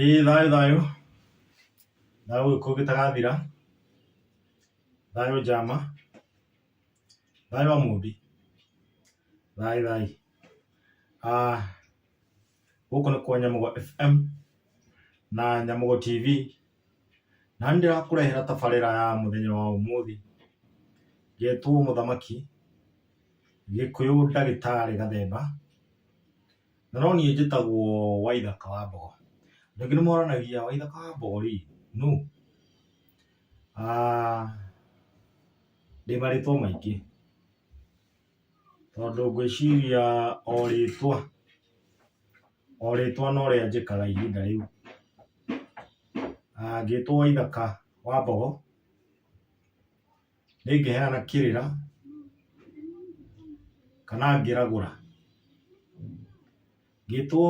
ĩĩ thayũ thayũ thayũ ũgĩkũyũ gĩtagathira thayũ njama thayũ wa mũmbi thayũ thayũ Ah, gũkũ nĩ kwa nyamũgo fm na nyamũgo tv Na nĩ ndĩrakũrehera tabarĩra ya mũthenya wa ũmũthĩ. Njetwo mũthamaki, gĩkũyũ ndagĩtarĩ gathemba, na no niĩ njĩtagwo Waithaka wa Mbogo. Andũ aingĩ nĩ moranagia Waithaka wa Mbogo rĩ nũ? Ndĩ marĩtwa maingĩ. Tondũ ngwĩciria o rĩtwa, o rĩtwa no rĩa njĩkaga ihinda rĩu. Ngĩtwo Waithaka wa mbogo, nĩ ngĩheana kĩrĩra kana ngĩragũra. Ngĩtwo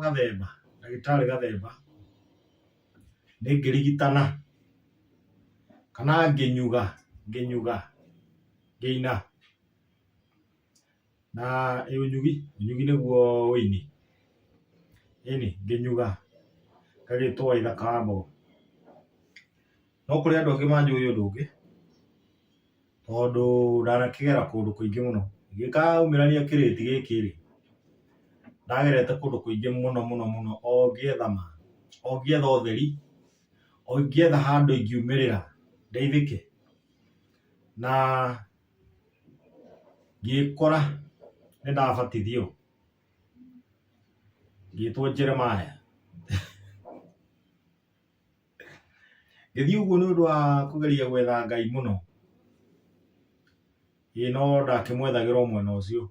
Gathemba, ndagĩtarĩ Gathemba, nĩ ngĩrigitana, kana ngĩnyuga, ngĩnyuga, ngĩina, na ĩ ũnyugi, ũnyugi nĩguo ũini, ĩni, ngĩnyuga, ngagĩtwo Waithaka wa Mbogo. No kũrĩ andũ angĩ manjũĩ ũndũ ũngĩ. tondũ ndanakĩgera kũndũ kũingĩ mũno. Ingĩkaumĩrania kĩrĩti gĩkĩ rĩ, ndagerete kũndũ kũingĩ mũno mũno mũno o ngĩetha ma, o ngĩetha ũtheri, o ngĩetha handũ ingiumĩrĩra ndeithĩke, na ngĩkora nĩ ndabatithio, ngĩtwo Jeremiah. Ngĩthiĩ ũguo nĩ ũndũ wa kũgeria gwetha Ngai mũno, ĩ no ndakĩmwethagĩra o mwena ũcio.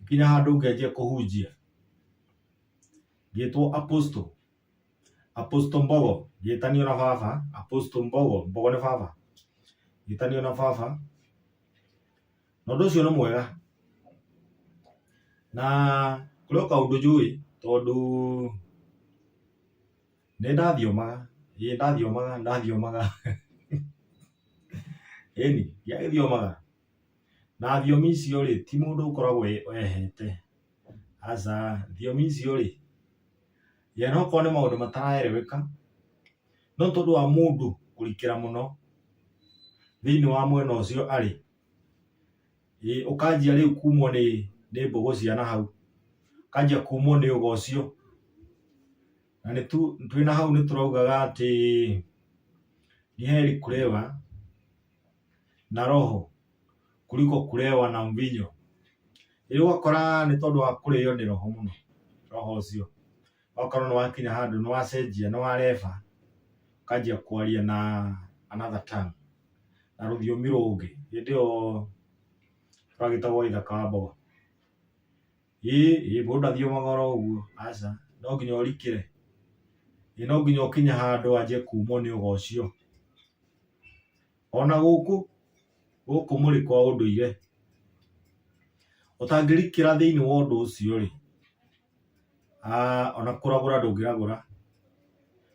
Ngĩkinya handũ ngĩanjia kũhunjia, ngĩtwo Apostle, Apostle Mbogo, ngĩtanio na baba, Apostle Mbogo, Mbogo nĩ baba, ngĩtanio na baba, na ũndũ ũcio nĩ mwega na kũrĩ o kaũndũ njũĩ tondũ nĩ ndathiomaga, ĩĩ nĩ ndathiomaga, nĩ ndathiomaga, ĩni ndiagĩthiomaga na thiomi icio rĩ ti mũndũ ũkoragwo ehete, aca thiomi icio rĩ ye no okorwo nĩ maũndũ mataraereweka no tondũ wa mũndũ kũrikĩra mũno thĩinĩ wa mwena ũcio arĩ. Ĩĩ ũkanjia rĩu kumwo nĩ nĩ mbũgũ cia na hau, ũkanjia kumwo nĩ ũgo ũcio. Na nĩ tu twĩ na hau nĩ tũraugaga atĩ, Ni heri kulewa na roho kuliko kulewa na mvinyo. Rĩu ũgakora nĩ tondũ wa kũrĩo nĩ roho mũno, roho ũcio. okorwo nĩ wakinya handũ nĩ wacenjia nĩ wa refa ũkanjia kwaria na another tongue na rũthiomi rũngĩ hĩndĩ ĩyo rwagĩtagwo ithaka wa mbogo ĩ ĩ mũndũ ndathiomaga oro ũguo aca no nginya ũrikĩre ĩ no nginya ũkinye handũ wanjie kumwo nĩ ũga ũcio. Ona gũkũ gũkũ mũrĩ kwa ũndũire, ũtangĩrikĩra thĩinĩ wa ũndũ ũcio-rĩ, ona kũragũra ndũngĩragũra,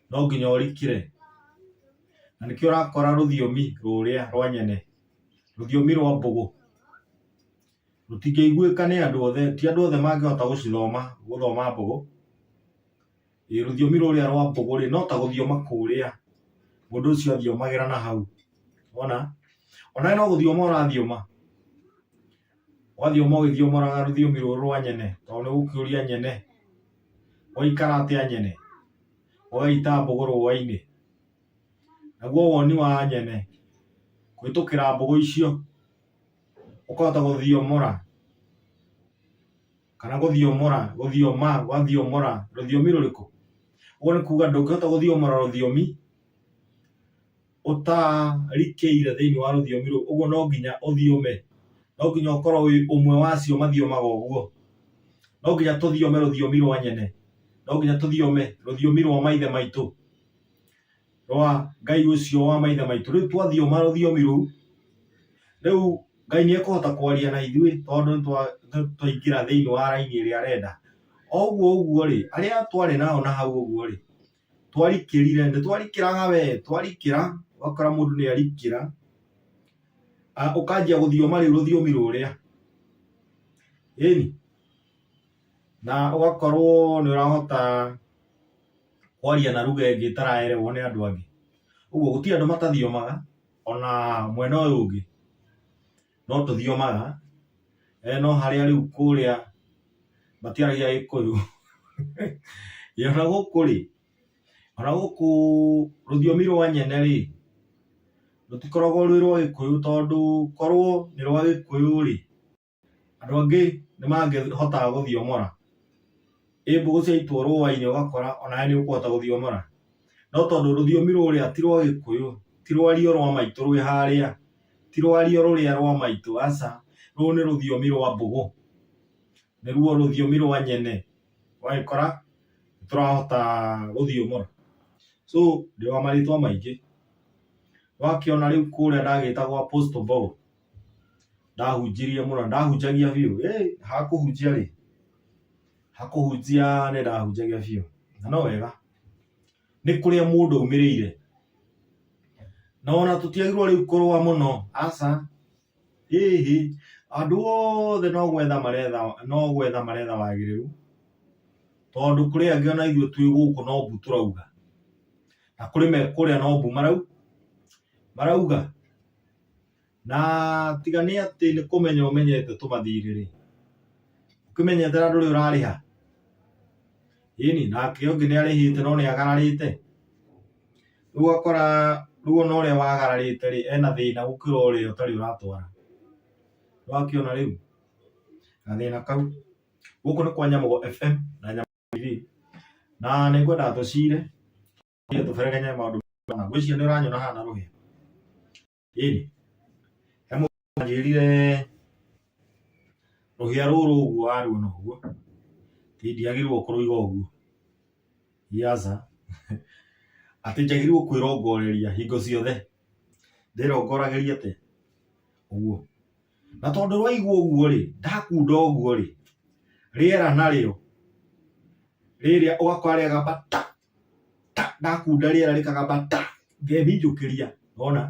no nginya ũrikĩre. Na nĩkĩo ũrakora rũthiomi rũrĩa rwa nyene, rũthiomi rwa mbũgũ, rũtingĩiguĩka nĩ andũ othe, ti andũ othe mangĩhota gũcithoma, gũthoma mbũgũ. Ĩ rũthiomi rũrĩa rwa mbũgũ rĩ no ta gũthioma kũrĩa mũndũ ũcio athiomagĩra na hau ona onawe no gũthioma ũrathioma wathioma ũgĩthiomoraga rũthiomi rũrũ rwa nyene tondũ nĩ gũkĩũria nyene gwaikara atĩa nyene gũgaita mbũgũ rũa-inĩ naguo woni wa nyene kũhĩtũkĩra mbũgũ icio ũkahota gũthiomora. kana gũthiomora gũthioma wathiomora rũthiomi rũrĩkũ ũguo nĩ kuga ndũngĩhota gũthiomora rũthiomi ũtarikĩire thĩinĩ wa rũthiomi rũu ũguo no nginya ũthiome no nginya ũkorwo wĩ ũmwe wa acio mathiomaga ũguo no nginya tũthiome rũthiomi rwa nyene no nginya tũthiome rũthiomi rwa maithe maitũ rwa Ngai ũcio wa maithe maitũ. Rĩu twathiooma rũthiomi rũu, rĩu Ngai nĩekũhota kwaria na ithuĩ tondũ nĩtwa- nĩ- twaingĩra thĩinĩ wa raini ĩrĩa arenda. O ũguo ũguo-rĩ, arĩa twarĩ nao na hau ũguo-rĩ, twarikĩrire, nĩtwarikĩraga wee, twarikĩra, ũgakora mũndũ nĩarikĩra, a ũkanjia gũthioma rĩu rũthiomi rũrĩa, ĩni, na ũgakorwo nĩũrahota kwaria na ruga ĩngĩ ĩtaraerewo nĩ andũ angĩ ũguo gũtirĩ andũ matathiomaga ona mwena ũyũ ũngĩ no tũthiomaga eh, no harĩa rĩu kũrĩa matiaragia gĩkũyũ Ĩ, ona gũkũ rĩ ona gũkũ rũthiomi rwa nyene rĩ rũtikoragwo rwĩ rwa gĩkũyũ tondũ korwo nĩ rwa gĩkũyũ rĩ Andũ angĩ nĩ mangĩhotaga gũthiomora. Ĩ mbũgũ ciaitwo rũũa-inĩ ũgakora o nawe nĩ ũkũhota gũthiomora? No tondũ rũthiomi rũrĩa ti rwa Gĩkũyũ, ti rwario rwa maitũ rwĩ harĩa, ti rwario rũrĩa rwa maitũ, aca. Rũrũ nĩ rũthiomi rwa mbũgũ, nĩruo rũthiomi rwa nyene, ũgagĩkora nĩ tũrahota gũthiomora. So ndĩ wa marĩtwa maingĩ. Nĩ wakĩona rĩu kũrĩa ndagĩĩta gwa Apostle Paul, ndahunjirie mũno ndahunjagia biũ ĩ hakũhunjia rĩ hakũhunjia nĩ ndahunjagia biũ na no wega nĩ kũrĩa mũndũ aumĩrĩire na ona tũtiagirwo rĩu kũrũa mũno aca ĩhĩ andũ othe no gwetha maretha no gwetha maretha wagĩrĩru tondũ kũrĩ angĩ ona ithuĩ twĩ gũkũ no mbu tũrauga na kũrĩ me kũrĩa no mbu marau marauga Na tiga nĩ atĩ nĩ kũmenya ũmenyete tũmathirĩ-rĩ, ũkĩmenyete na ndũrĩ ũrarĩha. Ĩni, nake ũngĩ nĩ arĩhĩte no nĩ agararĩte. Rĩu ũgakora rĩu ona ũrĩa wagararĩte-rĩ, ena thĩna gũkĩra ũrĩa ũtarĩ ũratwara. Nĩ wakĩona rĩu gathĩna kau? Gũkũ nĩ kwa Nyamũgo FM na Nyamũgo TV, na nĩ ngwenda tũcire, tũgerie tũberegenye maũndũ maya. Ngwĩciria nĩ ũranyona haha na rũhĩa. ĩni he mũndũ wanjĩrire rũhĩa rũrũ ũguo waruona ũguo ti ndiagĩrĩirwo kũrũiga ũguo yaza atĩ njagĩrĩirwo kwĩrongoreria hingo ciothe ndĩrongoragĩria atĩ ũguo na tondũ rwaigwo ũguo rĩ ndakunda ũguo rĩ rĩera narĩo rĩrĩa ũgakora rĩagamba ta ta ndakunda rĩera rĩkagamba ta ngeminjũkĩria wona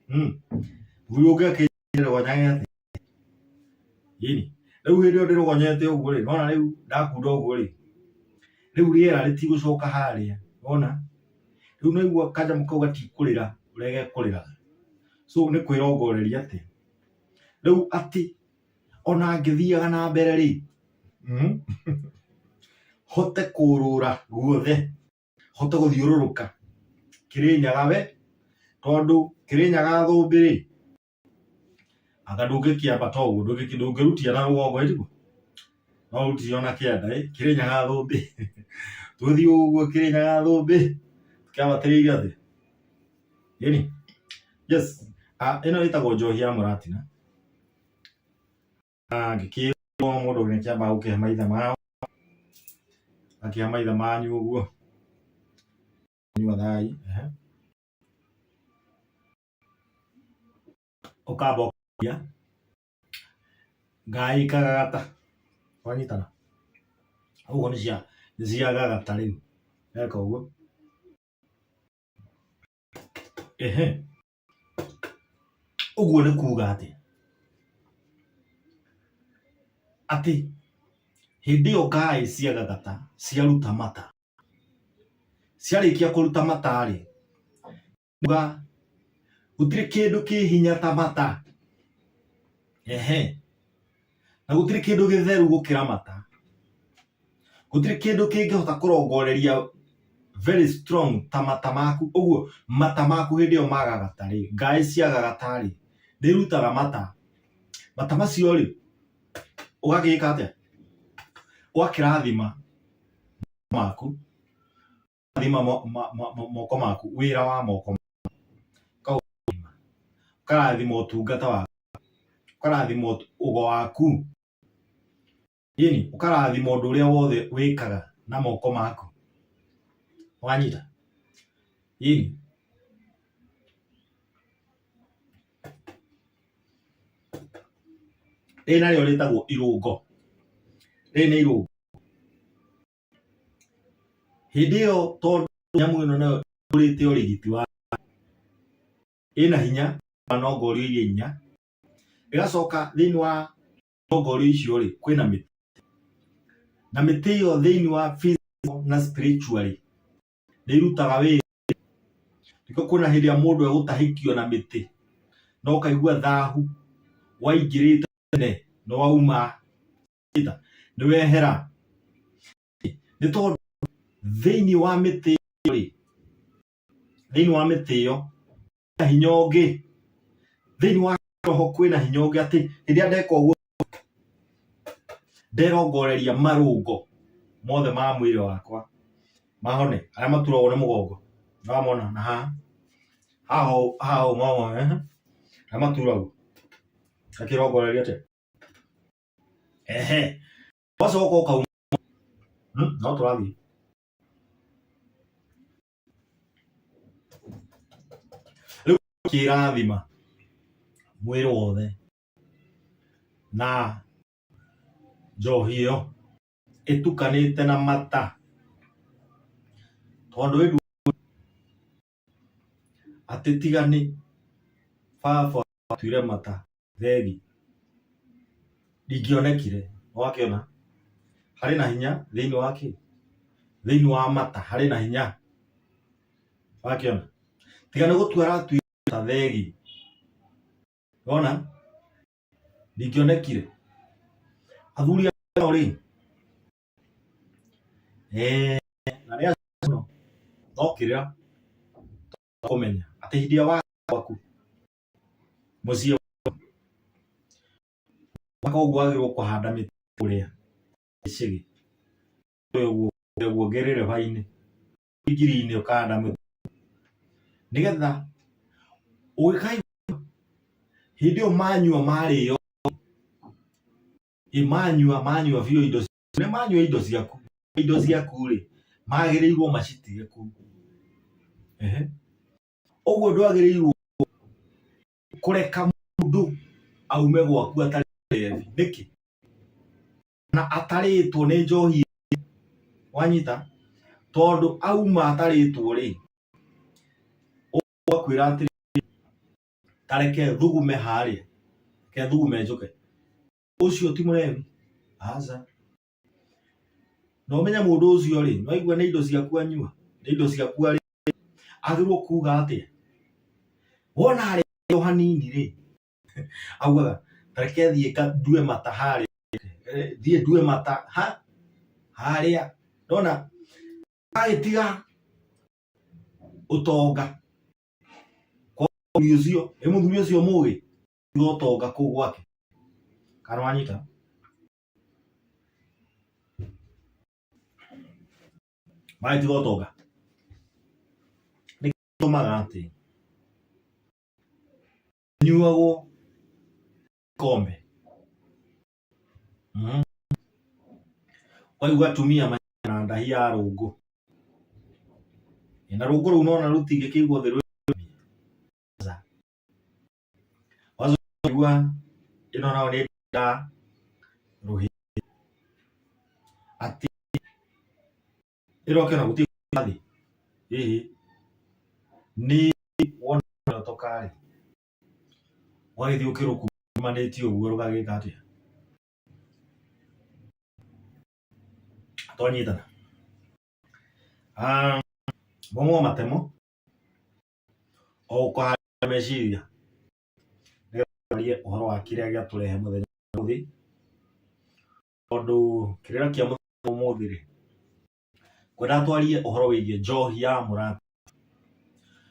hmm. rĩu ũngĩakĩrogonyage atĩ ini rĩu hĩndĩ ĩyo ndĩrogonyete ũguo rĩ nona rĩu ndakunda ũguo rĩ rĩu rĩera rĩtigũcoka harĩa wona rĩu naigua kanjamu kau gatikũrĩra ũrĩa gekũrĩraga so nĩ kwĩrongoreria atĩ rĩu atĩ ona ngĩthiaga na mbere rĩ mm, hote kũrũra guothe hote gũthiũrũrũka kĩrĩnyaga we tondũ kĩrĩnyaga thũmbĩ rĩ anga ndũngĩkĩambata ũguo ndũngĩki- ndũngĩrutia na rũgongo ĩriguo no ũrutire ona kĩanda ĩ kĩrĩnyaga thũmbĩ tũthiĩ ũguo kĩrĩnyaga thũmbĩ kĩambatĩrĩire thĩ ĩni yes Ah, ĩno ĩtagwo njohi ya mũratina angĩkĩrwo mũndũ nĩ kĩambaga gũkĩhe maithe mao akĩhe maithe manyu ũguo nyuathai ũkamba ũkĩria ngai kagagata wanyitana ũguo nĩ cia nĩ cia gagata rĩu eka ũguo ehe ũguo nĩ kuga atĩ atĩ hĩndĩ ĩyo ngaĩ cia gagata ciaruta mata ciarĩkia kũruta mata rĩ kuga gũtirĩ kĩndũ kĩ hinya ta mata ehe na gũtirĩ kĩndũ gĩtheru gũkĩra mata gũtirĩ kĩndũ kĩngĩhota kũrongoreria very strong ta mata maku ũguo mata maku hĩndĩ ĩyo magagata rĩ ngaĩ ciagagata rĩ nĩ irutaga mata mata macio rĩ ũgagĩka atĩa ũgakĩrathima maku ũgakĩrathima moko maku wĩra wa moko maku ũkarathima ũtungata waku ũkarathima ũgo waku. Ini, ũkarathima ũndũ ũrĩa wothe wĩkaga na moko maku. Wanyita? Ini. Rĩrĩ narĩo rĩtagwo irũngo. Rĩrĩ nĩ irũngo. Hĩndĩ ĩyo tondũ nyamũ ĩno nayo ĩkũrĩte ũrigiti wa ĩna hinya, no ngorio iria inya, ĩgacoka thĩinĩ wa irongorio icio rĩ kwĩna mĩtĩ na mĩtĩ ĩyo thĩinĩ wa physical na spiritually nĩ irutaga wĩra nĩkĩo kwĩna hĩndĩ ĩrĩa mũndũ egũtahĩkio na mĩtĩ no kaigua thahu waingĩrĩte tene nĩ wauma nĩ wehera nĩ tondũ thĩinĩ wa mĩtĩ ĩyo rĩ thĩinĩ wa mĩtĩ ĩyo na hinya ũngĩ thĩinĩ wa roho kwĩna hinya ũngĩ atĩ rĩrĩa ndeka ũguo nderongoreria marũngo mothe ma mwĩrĩ wakwa mahone arĩa maturagwo nĩ mũgongo namona na haha haha haha ũmamona eh? arĩa maturagwo akĩrongoreria atĩ ehe wacoka ũkauma hmm? no tũrathiĩ rĩu kĩrathima mwĩrĩ wothe na njohi ĩyo ĩtukanĩte na mata tondũ ĩndu atĩ tiga nĩ baba watuire mata theri ndingĩonekire wakĩona harĩ na hinya thĩinĩ wa kĩ thĩinĩ wa mata harĩ na hinya wakĩona tiga nĩ gũtua aratuire ta theri wona ndingĩonekire athuri ao rĩ eh, na rĩa no kĩrĩa kũmenya atĩ hĩndĩ ya waku mũciĩ mwaka ũguo agĩrwo kũhanda mĩtĩ kũrĩa icĩgĩ guo ngerere bainĩ injiri-inĩ ũkahanda mĩtĩ nĩgetha ũgĩkaigua hĩndĩ ĩyo manyua marĩo manyua manyua biũ indo nĩ manyua indo ciaku indo ciaku rĩ magĩrĩirwo macitige kũu ũguo ndwagĩrĩirwo kũreka mũndũ aume gwaku atarĩ revi nĩkĩ na atarĩtwo nĩ njohi wanyita tondũ auma atarĩtwo rĩ ũkwĩra atĩrĩ tareke thugume harĩa ke thugume njũke ũcio ti mũrevi aca na ũmenye mũndũ ũcio rĩ nĩwaigua nĩ indo ciaku anyua nĩ indo ciaku arĩ agĩrĩirwo kuga atĩa wona arĩo hanini rĩ augaga reke thiĩ ndue mata harĩa thiĩ ndue mata ha harĩa ndona agĩtiga ũtonga kwa mũthuri ũcio ĩ mũthuri ũcio mũgĩ tiga ũtonga kũu gwake kana wanyita Vai de volta, Olga. Nĩ gĩtũmaga atĩ nyuagwo kombe mm. waigua atumia manyana ndahi ya rũngũ na rũngũ rũu nona rũtingĩkĩigwo thĩ wazoigua ĩno nao nĩ nda rũhĩ atĩ ĩroke na gũtirĩ thĩ hihi nĩ wona ũtokarĩ ũgagĩthiĩ ũkĩrũkumanĩtie ũguo rũgagĩka atĩa twanyitana ah, momo matemo o ũkahanda meciria nĩgetharie ũhoro wa kĩrĩa gĩatũrehe mũthenya ũmũthĩ tondũ kĩrĩra kĩa mũthenya ũmũthĩ rĩ kwenda twarie ũhoro wĩgiĩ njohi ya mũrata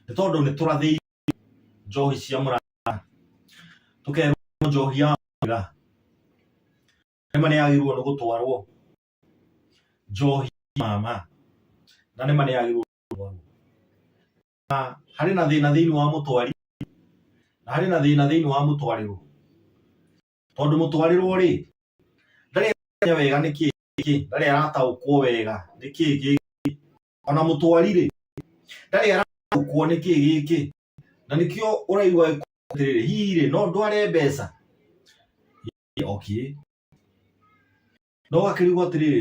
nĩ tondũ nĩ tũrathĩirio njohi cia mũrata tũkerwo njohi ya mũrata nĩma nĩ yagĩrĩirwo nĩ gũtwarwo njohi mama na nĩma nĩ yagĩrĩirwo na harĩ na thĩna thĩinĩ wa mũtwari na harĩ na thĩna thĩinĩ wa mũtwarĩrwo tondũ mũtwarĩrwo rĩ ndarĩ aramenya wega nĩ kĩĩ gĩkĩ ndarĩ arataũkwo wega nĩ kĩĩ gĩkĩ ona mũtwari rĩ ndarĩ arataũkwo nĩ kĩĩ gĩkĩ na nĩkĩo ũraigua atĩrĩrĩ hihi rĩ no ndware mbeca okay no gakĩrigwo atĩrĩrĩ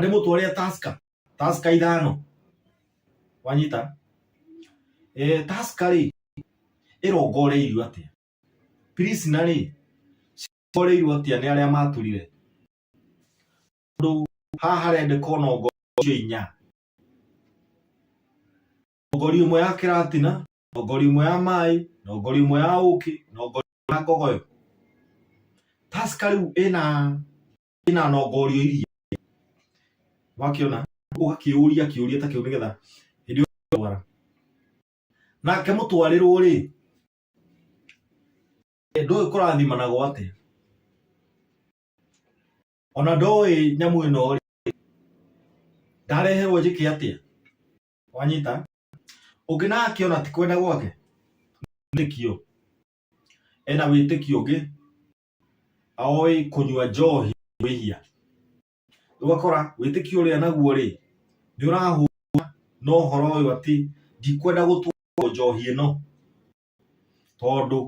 nĩ mũtwe ũrĩa taska taska ithano wanyita eh taska rĩ ĩrongoreirio atĩa prisna rĩ cirongoreirio atĩa nĩ arĩa maturire tondũ haha harendeka ona ongorio inya ngori ĩmwe ya kĩratina na ngori ĩmwe ya maĩ na ngori ĩmwe ya ũkĩ na ngori ĩmwe ya ngogoyo taska rĩu ĩna ina nongorio iria wakiona ugakiuria kiuria ta kiu nigetha hindi yo bara nake mutwarirwo ri ndoĩ kũrathimanagwo atĩa ona ndoĩ nyamũ ĩno rĩ ndareherwo njĩke atĩa wanyita ũngĩ nake ona ti kwenda gwake nĩkĩo ena wĩtĩkio ũngĩ aoĩ kũnyua njohi wĩhia ũgakora wĩtĩkio ũrĩa naguo rĩ nĩ ũrahũra no ũhoro ũyũ atĩ ndikwenda gũtwarwo njohi ĩno tondũ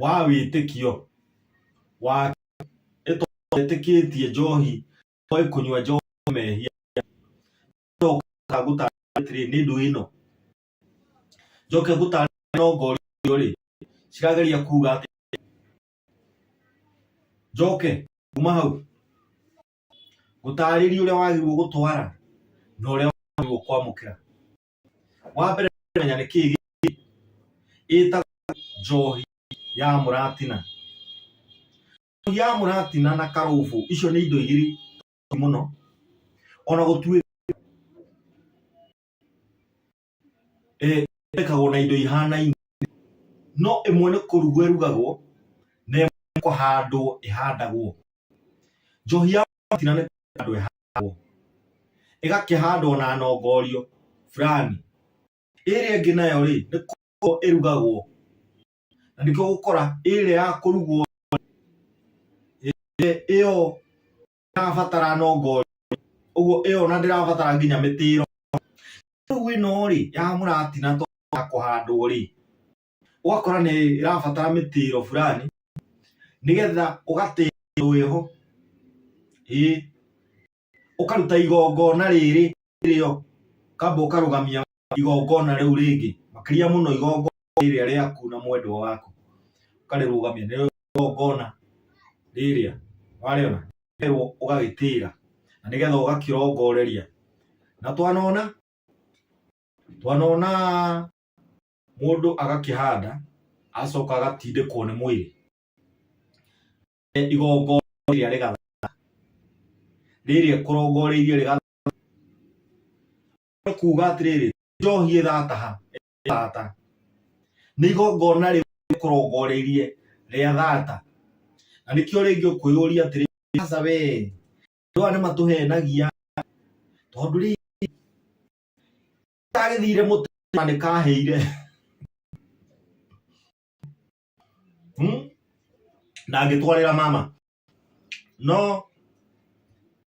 wa wĩtĩkio wa etĩkĩtie njohi oĩ kũnyua njohi mehia gũtarĩ nĩ ndũ ĩno njoke gũtaarĩria no ngorio rĩ cirageria kuga atĩ njoke kuma hau gũtaarĩria ũrĩa wagĩrĩirwo gũtwara na ũrĩa wagĩrĩirwo kwamũkĩra wa mbere menya nĩ kĩĩ gĩkĩ ĩtagwo njohi ya mũratina njohi ya mũratina na karũbũ icio nĩ indo igĩrĩ mũno ona gũtuĩka eh, ĩthondekagwo na indo ihanaine no ĩmwe nĩ kũrugwo ĩrugagwo na ĩmwe kũhandwo ĩhandagwo. Njohi ya mũratina nĩ kũhandwo ĩhandagwo ĩgakĩhandwo na nongorio fulani. Ĩrĩa ĩngĩ nayo rĩ nĩ kũrugwo ĩrugagwo na nĩkĩo ũgũkora ĩrĩa ya kũrugwo ĩyo ndĩrabatara nongo ũguo ĩyo na ndĩrabatara nginya mĩtĩro rĩu ĩno rĩ ya mũratina to ya kũhandwo rĩ ũgakora nĩ ĩrabatara mĩtĩro fulani nĩgetha ũgatĩrwo ĩho ĩĩ ũkaruta igongona rĩrĩ ĩyo kamba ũkarũgamia igongona rĩu rĩngĩ makĩria mũno igongona rĩrĩa rĩaku na mwendwa waku ũkarĩrũgamia nĩ igongona rĩrĩa warĩona rĩrwo ũgagĩtĩra na nĩgetha ũgakĩrongoreria na twanona twanona mũndũ agakĩhanda acoka agatindĩkwo nĩ mwĩrĩ igongona rĩrĩa rĩgathaa rĩrĩa kũrongoreirie rĩgathaa kuga atiriri njohi ĩthataha ĩthata nĩ igongona rĩu rĩkũrongoreirie rĩa thata na nĩkĩo rĩngĩ ũkwĩyũria atĩrĩ aca we andũ aya nĩ matũhenagia tondũ rĩ tagĩthire mũtĩ na nĩ kahĩire hmm? na ngĩtwarĩra mama no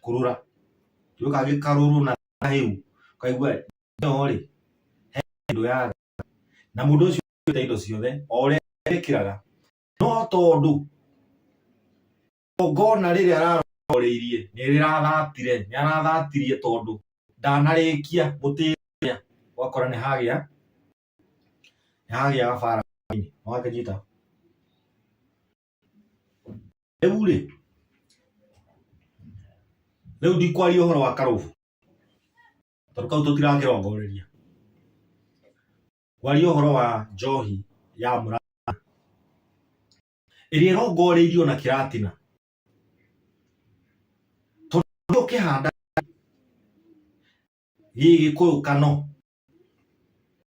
kurura ndio kagikaruru na hiu kaigua no ri he ndu ya na mundu ucio ta indo ciothe o uria ekiraga no tondu ngona riri araroreirie ni rirathatire ni arathatire tondu ndanarikia gutiria wakora ni hagia ni hagia bara ni wakanyita rĩu rĩ rĩu ndikwaria ũhoro wa karũbu tondũ kau tũtirakĩrongoreria kwaria ũhoro wa njohi ya mũrata ĩrĩa ĩrongoreirio na kĩratina tondũ ũkĩhanda gĩgĩkũyũ kano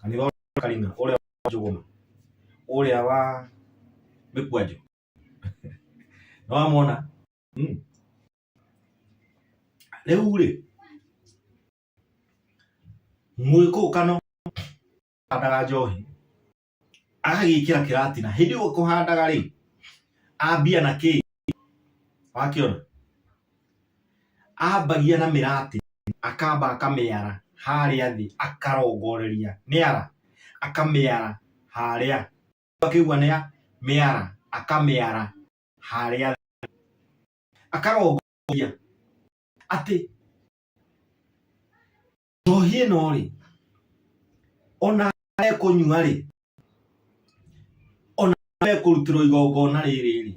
kanitha wa Karina ũrĩa wa Njũgũma ũrĩa wa Mĩkwanjũ nĩ wamwona Hmm. rĩu rĩ mũgĩkũũkano handaga njohi agagĩkĩra kĩratina hĩndĩ ĩyo kũhandaga rĩ ambia na kĩĩ wakĩona ambagia na mĩratĩ akamba akamĩara harĩa thĩ akarongoreria mĩara akamĩara harĩa akĩigua nĩ mĩara akamĩara harĩa thĩ akarongoreria atĩ njohi ĩno rĩ ona ekũnyua rĩ ona mekũrutĩrwo igongona rĩrĩ rĩ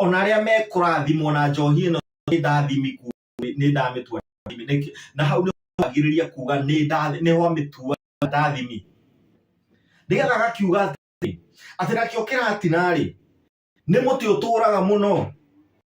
ona arĩa mekũrathimwo na njohi ĩno nĩ ndathimi nĩ ndamĩtua na hau nĩ agirĩria kuga nĩ ndathimi nĩ ho amĩtua ndathimi nĩgetha agakiuga atĩ nakĩo kĩratina rĩ nĩ mũtĩ ũtũraga mũno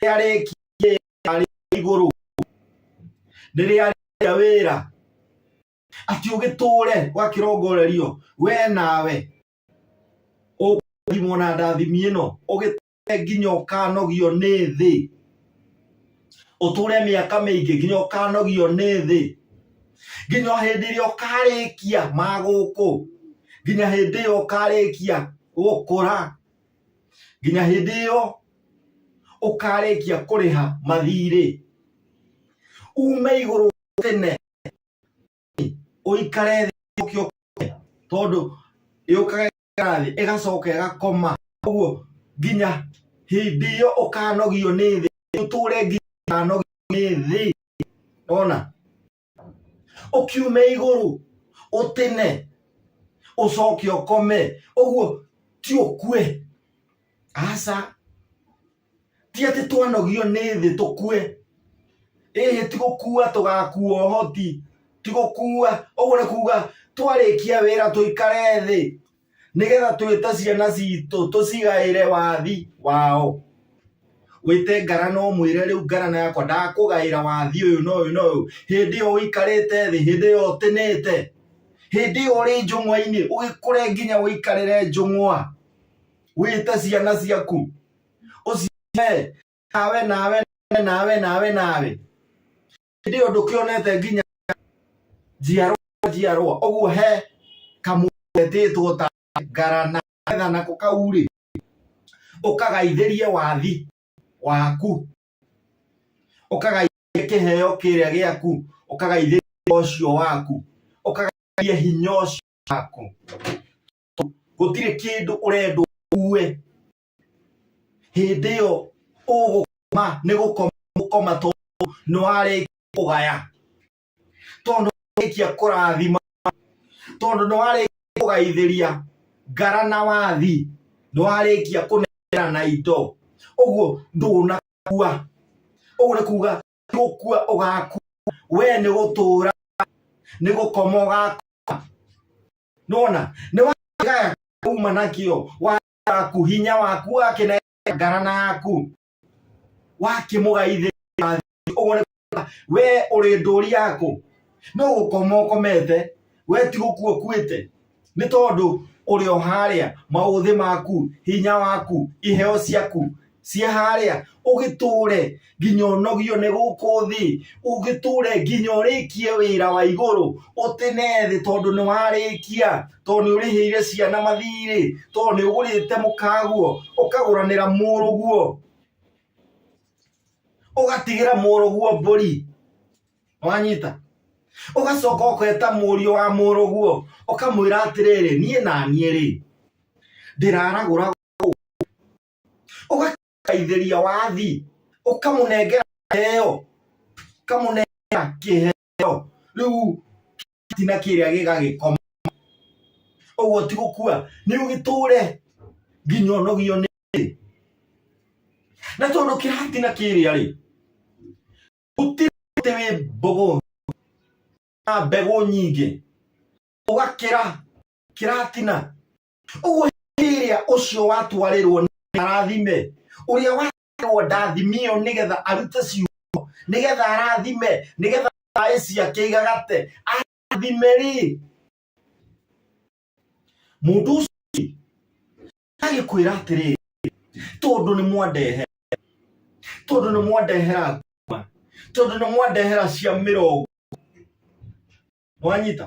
rĩrĩa rekire arĩ igũrũ rĩrĩa rĩa wĩra ati ũgĩtũre ũgakĩrongorerio we nawe ũkũthimwo na ndathimi ĩno ũgĩtũre nginya ũkanogio nĩ thĩ ũtũre mĩaka mĩingĩ nginya ũkanogio nĩ thĩ nginya hĩndĩ ĩrĩa ũkarĩkia magũkũ nginya hĩndĩ ĩyo ũkarĩkia gũkũra nginya hĩndĩ ĩyo ũkarĩkia kũrĩha mathirĩ ume igũrũ tene ũikare thĩ tondũ yũkaga thĩ ĩgacoka ĩgakoma ũguo nginya hĩndĩ ĩyo ũkanogio nĩ thĩ ũtũre nginya ũkanogio nĩ thĩ ona ũkiume igũrũ ũtĩne ũcoke ũkome ũguo ti ũkue aca ti atĩ twanogio nĩ thĩ tũkue ĩhĩ ti gũkua tũgakua ũhoti ti gũkua ũguo nĩ kuga twarĩkia wĩra tũikare thĩ nĩgetha twĩte ciana citũ tũcigaĩre wathi wao wĩte ngara no mwĩre rĩu ngara na yakwa ndakũgaĩra wathi ũyũ na ũyũ na ũyũ hĩndĩ ĩyo ũikarĩte thĩ hĩndĩ ĩyo ũtĩnĩte hĩndĩ ĩyo ũrĩ njũng'wa-inĩ ũgĩkũre nginya ũikarĩre njũng'wa wĩte ciana ciaku ũcihe nawe nawe nawe nawe nawe hĩndĩ ĩyo ndũkĩonete nginya njiarwa njiarwa ũguo he kamwetĩtwo ta ngarana getha nako kau-rĩ ũkagaithĩrie wathi waku ũkagaithĩrie kĩheo kĩrĩa gĩaku ũkagaithĩrie ũcio waku ũkagaithĩrie hinya ũcio waku gũtirĩ kĩndũ ũrendwo uue hĩndĩ ĩyo ũgũkoma nĩ gũkoma tondũ nĩ warĩkia kũgaya tondũ warĩkia kũrathima tondũ nĩ warĩkia kũgaithĩria ngara na wathi nĩ warĩkia kũnengera na indo ũguo ndũnakua ũguo nĩ kuga gũkua ũgakua we nĩ gũtũra nĩ gũkoma ũgakoma nona nĩ wagaya kuma nakĩo waku hinya waku wakinegera ngara naku wakimũgaithĩra ũguo we ũrĩ ndũri yaku no gũkoma ũkomete we ti gũkua ũkuĩte nĩ tondũ ũrĩ o harĩa maũthĩ maku hinya waku iheo ciaku cia harĩa ũgĩtũre nginya ũnogio nĩ gũkũ thĩ ũgĩtũre nginya ũrĩkie wĩra wa igũrũ ũtĩne thĩ tondũ nĩ warĩkia tondũ nĩ ũrĩhĩire ciana mathirĩ tondũ nĩ ũgũrĩte mũkaguo ũkagũranĩra mũrũguo ũgatigĩra mũrũguo mbũri wanyita ũgacoka ũketa mũriũ wa mũrũguo ũkamwĩra atĩrĩrĩ niĩ na niĩ rĩ ndĩraragũra ũgakaithĩria wathi ũkamũnengera kĩheo ũkamũnengera kĩheo rĩu tina kĩrĩa gĩgagĩkoma ũguo ti gũkua nĩ ũgĩtũre nginya ũnogio nĩ na tondũ kĩratina kĩrĩa rĩ gũtirĩ mũtĩ wĩ mbũgũ na mbegũ nyingĩ ũgakĩra kĩratina ũguo hĩndĩ ĩrĩa ũcio watwarĩrwo nĩ arathime ũrĩa watwarĩrwo ndathimio nĩgetha arute ciugo nĩgetha arathime nĩgetha thaĩ ciake igagate arathime rĩ mũndũ ũcio agĩkwĩra atĩrĩrĩ tondũ nĩ mwandehera tondũ nĩ mwandehera nguma tondũ nĩ mwandehera cia mĩrongo mwanyita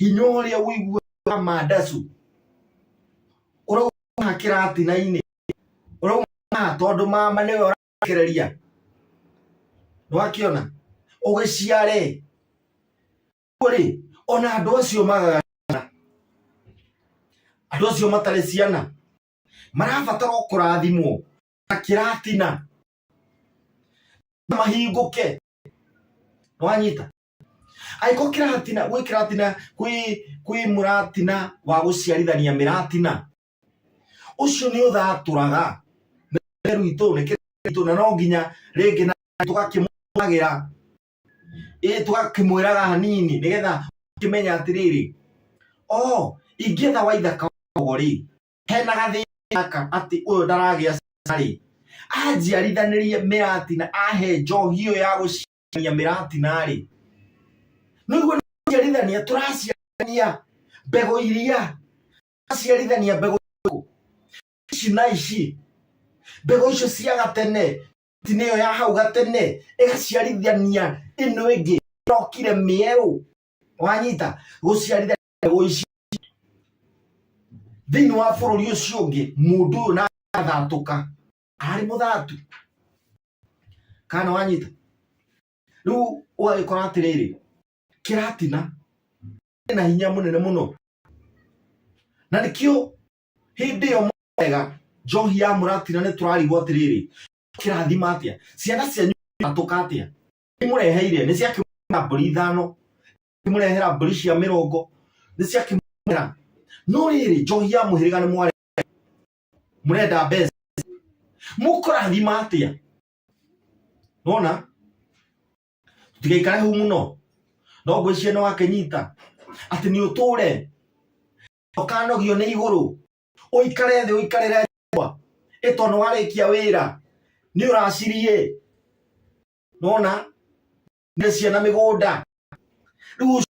hinya ũrĩa ũiguaga mandacu ũrauma kĩratina-inĩ ũrauma tondũ mama nĩwe ũrakereria nĩwakĩona ũgĩciare rĩ ona andũ acio magaga andũ acio matarĩ ciana marabatara o kũrathimwo na kĩratina mahingũke nĩwanyita angĩkorwo kĩratina gwĩ kĩratina kwĩ kwĩ mũratina wa gũciarithania mĩratina ũcio nĩ ũthatũraga meru itũ nĩ kĩritũ na no nginya rĩngĩ na tũgakĩmũagĩra ĩ tũgakĩmwĩraga hanini nĩgetha ũkĩmenya atĩrĩrĩ o ingĩetha waitha kaogo rĩ hena gathĩna gaka atĩ ũyũ ndaragĩa ciana rĩ anjiarithanĩrie mĩratina ahe njohi ĩyo ya gũciara tũraciarithania mĩratina-rĩ nĩguo tũraciarithania tũraciarithania mbegũ iria tũraciarithania mbegũ ici na ici mbegũ icio cia gatene mĩratina ĩyo ya hau gatene ĩgaciarithania ĩno ĩngĩ ĩrokire mĩerũ wanyita gũciarithania mbegũ ici thĩinĩ wa bũrũri ũcio ũngĩ mũndũ ũyũ na agathatũka arĩ mũthatu kana wanyita rĩu ũgagĩkora atĩrĩrĩ kĩratina na hinya mũnene mũno na nĩkĩo hĩndĩ ĩyo mwega njohi ya mũratina nĩ tũrarigwo atĩrĩrĩ kĩrathima atĩa ciana cianyu atũka atĩa imũreheire nĩ ciakĩmũrehera mbũri ithano imũrehera mbũri cia mĩrongo nĩ ciakĩmũrehera no rĩrĩ njohi ya mũhĩrĩga nĩ mware murenda mbeca mukorathima atia nona tigaikare hau muno no ngwĩciria nĩ wakĩnyita atĩ nĩ ũtũre ũkanogio nĩ igũrũ ũikare thĩ ũikarĩre nyũmba ĩto nĩ warĩkia wĩra nĩ ũraciriĩ nona nĩ ciana mĩgũnda rĩu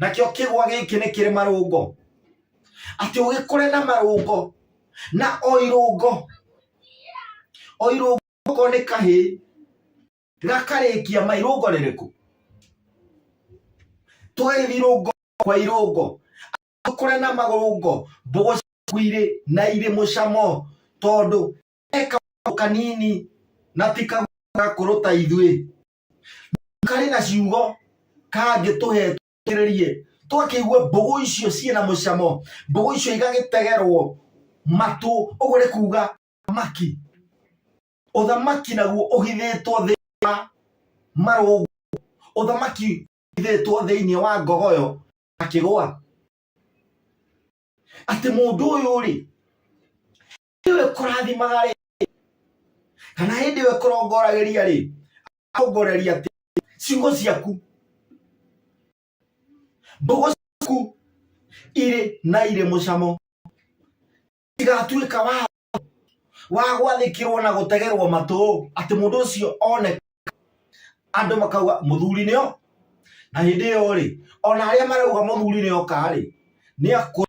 nakĩo kĩgwa gĩkĩ nĩ kĩrĩ marũngo atĩ ũgĩkore na marũngo na o irũngo o irũngo okorwo nĩ kahĩ gakarĩkia ma irũngo rĩrĩkũ twarĩthi irũngo kwa irũngo ũkore na marũngo mbogo ciaku irĩ na irĩ mũcamo tondũ eka kanini na ti kagakũrũ ta ithuĩ karĩ na ciugo kangĩ tũhetwo kĩrĩrie twakĩigua mbũgũ icio ciĩ na mũcamo mbũgũ icio igagĩtegerwo matũ ũguo nĩ kuga thamaki ũthamaki naguo ũhithĩtwo thĩinĩ wa marũngo ũthamaki ũhithĩtwo thĩinĩ wa ngogoyo akĩgwa atĩ mũndũ ũyũ rĩ ĩyo ĩkũrathimaga rĩ kana hĩndĩ ĩyo ĩkũrongoragĩria rĩ akongoreria atĩ ciugo ciaku mbogo ciaku irĩ na irĩ mũcamo igatuĩka wa wa gwathĩkĩrwo na gũtegerwo matũ atĩ mũndũ ũcio one andũ makauga mũthuri nĩo na hĩndĩ ĩyo rĩ ona arĩa marauga mũthuri nĩoka rĩ nĩ akũ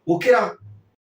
gũkĩra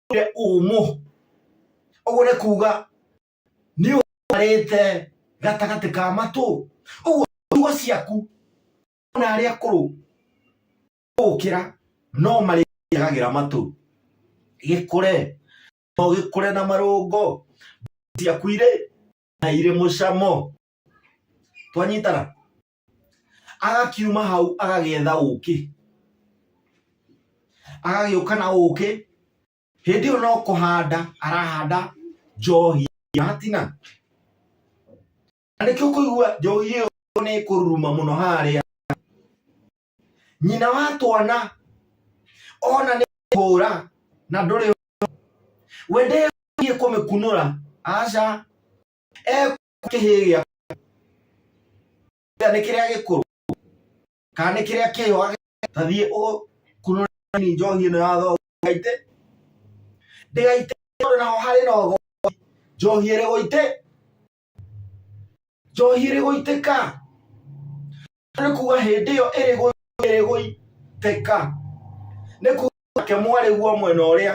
ũgũre ũmũ ũgũre kuga nĩ ũrĩte gatagatĩ ka matũ ũguo tugo ciaku na arĩa akũrũ gũkĩra no marĩagagĩra matũ gĩkũre no gĩkũre na marũngo ciaku irĩ na irĩ mũcamo twanyitana agakiuma hau agagĩetha ũkĩ agagĩũka na ũkĩ hĩndĩ ĩyo no kũhanda arahanda njohi ya hatina na nĩkĩo kũigua njohi ĩyo nĩ kũruruma mũno harĩa nyina wa twana ona nĩ hũra na ndũrĩ wende kũmĩkunũra aca kĩhĩĩ gĩa nĩ kĩrĩa gĩkũrũ kana nĩ kĩrĩa kĩho tathiĩ ũkunũrani njohi ĩno ya thogo gaitĩ ndĩgaitĩ tondũ naho harĩ na ũgo njohi ĩrĩ gũitĩ njohi ĩrĩ gũitĩka nĩ kuga hĩndĩ ĩyo ĩrĩ gũitĩka nĩ kuga ke mwarĩguo mwena ũrĩa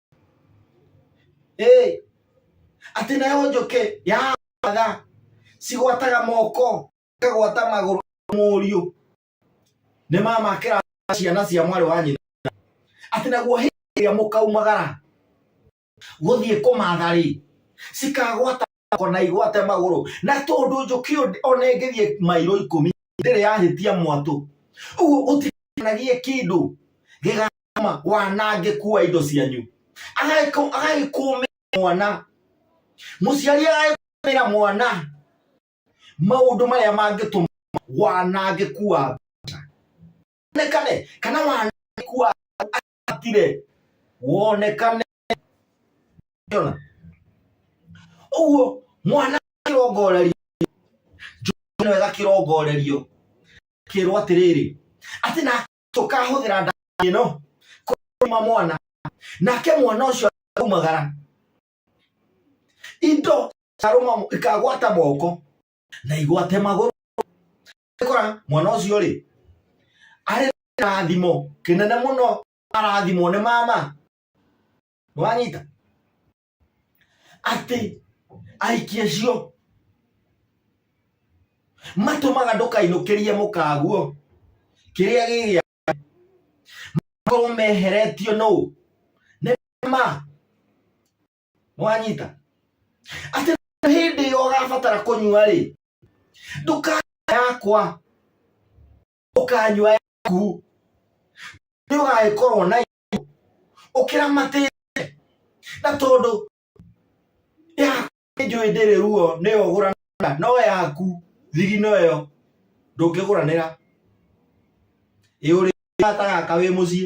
Hey, atĩ nayo njũkĩ ya matha cigwataga moko kagwata magũrũ mũriũ nĩ mama kĩra ciana cia mwarĩ wa nyina atĩ naguo hĩndĩ ĩrĩa mũkaumagara gũthiĩ kũmatha rĩ cikagwata yako na igwate magũrũ na tondũ njũkĩ ona ĩngĩthiĩ mairo ikũmi ndĩrĩ yahĩtia mwatũ ũguo gũtikanagie kĩndũ gĩgama wanangĩku wa indo cianyu agagĩkũmĩra mwana mũciari agagĩkũmĩra mwana maũndũ marĩa mangĩtũma wanangĩku wa mbeca kana wanangĩku wa atire wonekane ona uguo mwana kirongorerio njũkĩno wega kĩrongorerio kĩrwo atĩrĩrĩ atĩ na tũkahũthĩra ndawa ĩno kũrũma mwana nake mwana ũcio aumagara indo ikarũma ikagwata moko na igwate magũrũ kora mwana ucio ri ari rathimo kinene muno arathimo ni mama wanyita ati aikie cio matumaga ndukainukirie mukaguo kiria gigia makorwo meheretio no nä ma mwanyita atä hĩndĩ ĩyo ũgabatara kũnyua rĩ ndũkanyua yakwa ũkanyua yaku nĩ ũgagĩkorwo na ũkĩramatĩte na tondũ yaku nĩ njũĩ ndĩrĩ ruo nĩyo ũgũranĩra no yaku thigino ĩyo ndũngĩgũranĩra ĩũrĩ gata gaka wĩ mũciĩ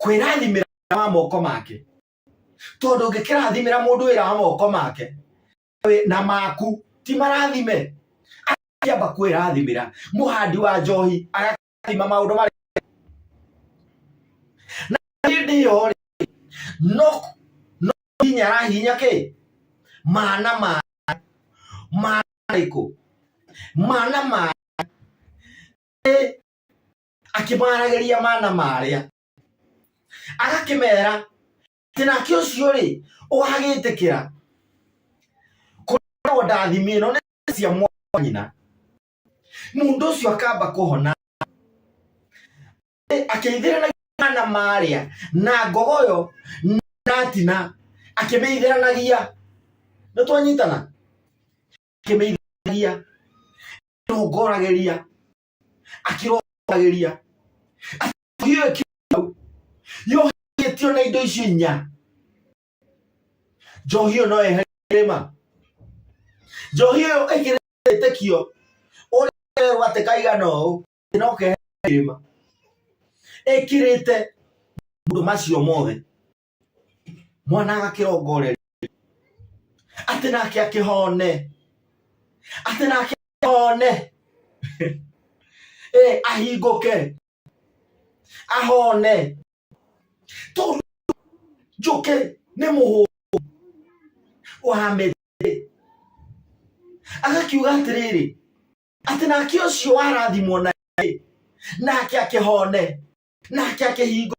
kwĩrathimĩra wa moko make tondũ ũngĩkĩrathimĩra mũndũ wĩra wa moko make na maku ti marathime akĩamba kwĩrathimĩra mũhandi wa njohi agakĩrathima maũndũ marĩa na hĩndĩ ĩyo rĩ no no hinya arahinya kĩ mana ma mana rĩkũ mana ma akĩmaragĩria mana marĩa agakĩmera atĩ nake ũcio rĩ ũgagĩtĩkĩra kũragwo ndathimi ĩno nĩ cia mwana nyina mũndũ ũcio akamba kũhona akĩithĩra na mana marĩa na ngogoyo natina akĩmĩithĩranagia nĩ twanyitana akĩmĩithĩranagia tũngoragĩria akĩrogagĩria hiyo ĩkiu yohetio na indo icio inya njohi ĩyo no yehere kĩrĩma njohi ĩyo ĩkĩrĩ wĩtĩkio ũrĩa gwatĩ kaigana ũũ no kehere kĩrĩma ĩkĩrĩte mũndũ macio mothe mwana agakĩrongoreri atĩ nake akĩhone atĩ nake one eh, ahingũke ahone tondũ njũkĩ nĩ mũhũ wa mĩtĩ agakiuga atĩrĩrĩ atĩ nake ũcio warathimwo na nake akĩhone nake akĩhingo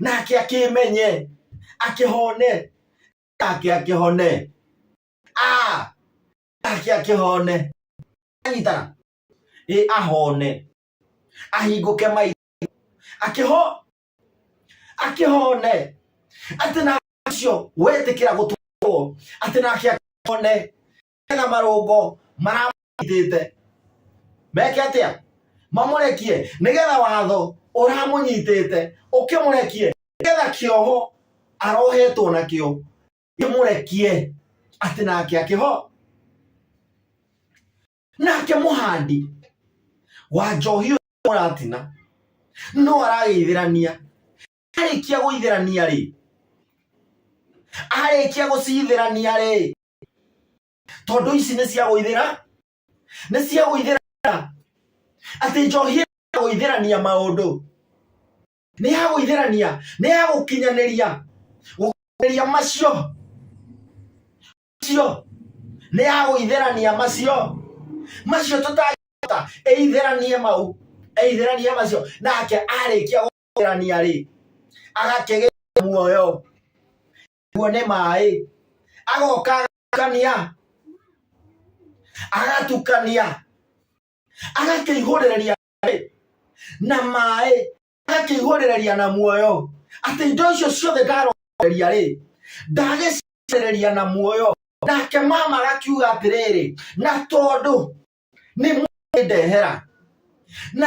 nake akĩmenye akĩhone nake akĩhone nake akĩhone anyitana ĩ ahone ahingũke mai akĩho akĩhone atĩ na acio wetĩkĩra gũtũrwo atĩ nake akĩhone na marũngo maramũnyitĩte meke atĩa mamũrekie nĩgetha watho ũramũnyitĩte ũkĩmũrekie nĩgetha kĩoho arohetwo nakĩo kĩmũrekie atĩ nake akĩho nake mũhandi wa njohi ũratina no aragĩithĩrania arĩkia gũitherania rĩ arĩkia gũcitherania rĩ tondũ ici nĩ cia gũithĩra nĩ cia gũithĩra atĩ njohi ya gũitherania maũndũ nĩ ya gũitherania nĩ ya gũkinyanĩria gũkinyanĩria macio macio nĩ ya gũitherania macio macio tũtangĩhota ĩitheranie mau ĩitheranie macio nake arĩkia kũgerania rĩ agakĩgĩa muoyo guo nĩ maĩ agoka agatukania agatukania agakĩihũrĩrĩria na maĩ agakĩihũrĩrĩria na muoyo atĩ indo icio ciothe ndarogeria rĩ ndagĩcirĩrĩria na muoyo nake mama agakiuga atĩrĩrĩ na tondũ nĩ mwendehera na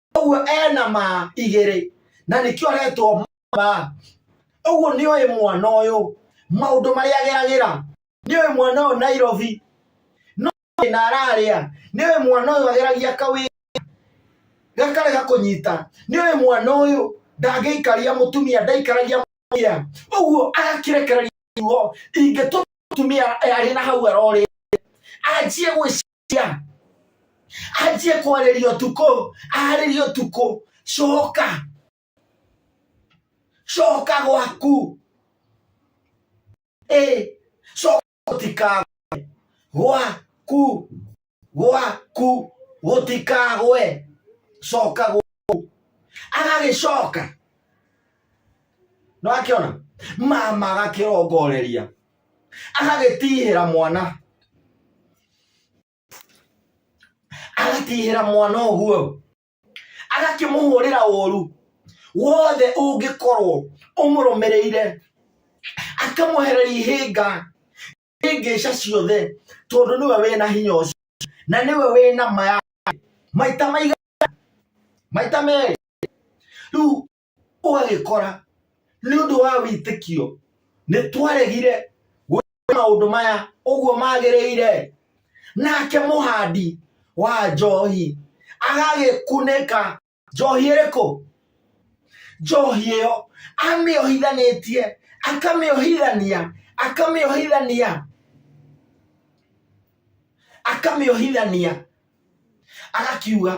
ũguo ena ma igĩrĩ na nĩkĩo aretwo ma ũguo nĩ ũyũ mwana ũyũ maũndũ marĩa ageragĩra nĩ ũyũ mwana ũyũ Nairobi no na ararĩa nĩ ũyũ mwana ũyũ ageragia kawĩ gakarega kũnyita nĩ ũyũ mwana ũyũ ndangĩikaria mũtumia ndaikaragia mũtumia ũguo agakĩrekereria ruo ingĩtũma mũtumia arĩ na hau arorĩ anjie gwĩciria cia anjie kwarĩria ũtukũ arĩria ũtukũ coka coka gwaku ĩ coka gũtikagwe gwaku gwaku gũtikagwe coka gwaku agagĩcoka no akĩona mama agakĩrongoreria agagĩtihĩra mwana agatihĩra mwana ũguo agakĩmũhũrĩra ũru wothe ũngĩkorwo ũmũrũmĩrĩire akamwehereria ihĩnga ihĩngĩca ciothe tondũ nĩwe wĩna hinya ũcio na nĩwe wĩna maya maita maigana maita merĩ rĩu ũgagĩkora nĩ ũndũ wa wĩtĩkio nĩ twaregire gwĩka maũndũ maya ũguo magĩrĩire nake mũhandi wa njohi agagĩkunĩka njohi ĩrĩkũ njohi ĩyo amĩohithanĩtie akamĩohithania akamĩohithania akamĩohithania agakiuga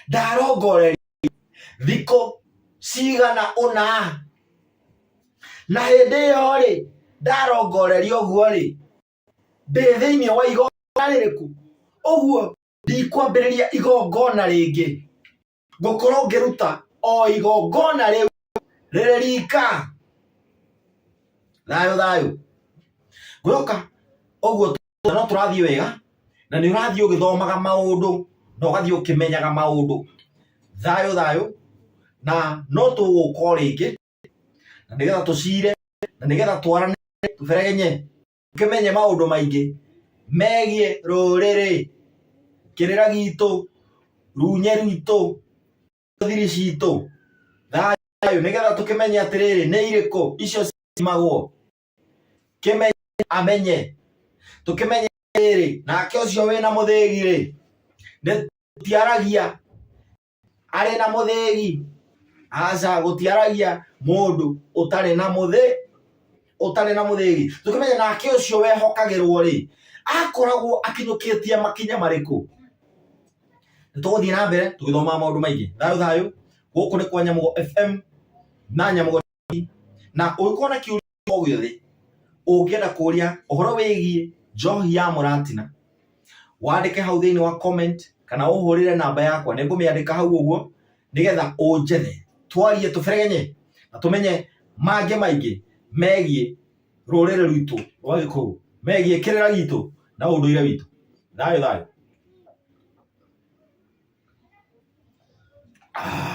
ndarongoreria thikũ cigana ũna na hĩndĩ ĩyo rĩ ndarongoreria ũguo rĩ ndĩ thĩinĩ wa igongona rĩrĩkũ ũguo ndikwambĩrĩria igongona rĩngĩ ngũkorwo ngĩruta o igongona rĩu rĩrĩ rika thayũ thayũ gwĩka ũguo no tũrathiĩ wega na nĩ ũrathiĩ ũgĩthomaga maũndũ na ũgathiĩ ũkĩmenyaga maũndũ thayũ thayũ na no tũgũka rĩngĩ na nĩgetha tũcire na nĩgetha twarane tũberegenye tũkĩmenye maũndũ maingĩ megiĩ rũrĩrĩ kĩrĩra gitũ runye rwitũ thiri citũ thayũ nĩgetha tũkĩmenye atĩrĩrĩ nĩ irĩkũ icio cimagwo kimenye amenye tukimenye riri nake ucio wina muthigi ri tiaragia ari na muthigi aca gutiaragia mundu utari na muthi utari na muthigi tukimenye nake ucio wehokagirwo ri akoragwo akinyukitie makinya mariku tuguthii na mbere tugithoma maundu maingi thayo thayo guku ni kwa nyamugo fm na nyamugo na ũngĩkorwo na kĩũria o gĩothe ũngĩenda kũria ũhoro wĩgiĩ njohi ya mũratina wandĩke hau thĩinĩ wa comment kana ũhũrĩre namba yakwa nĩ ngũmĩandĩka hau ũguo nĩgetha ũnjethe twarie tũberegenye na tũmenye mangĩ maingĩ megiĩ rũrĩrĩ rwitũ rwa gĩkũyũ megiĩ kĩrĩra gitũ na ũndũire witũ thayũ thayũ ah.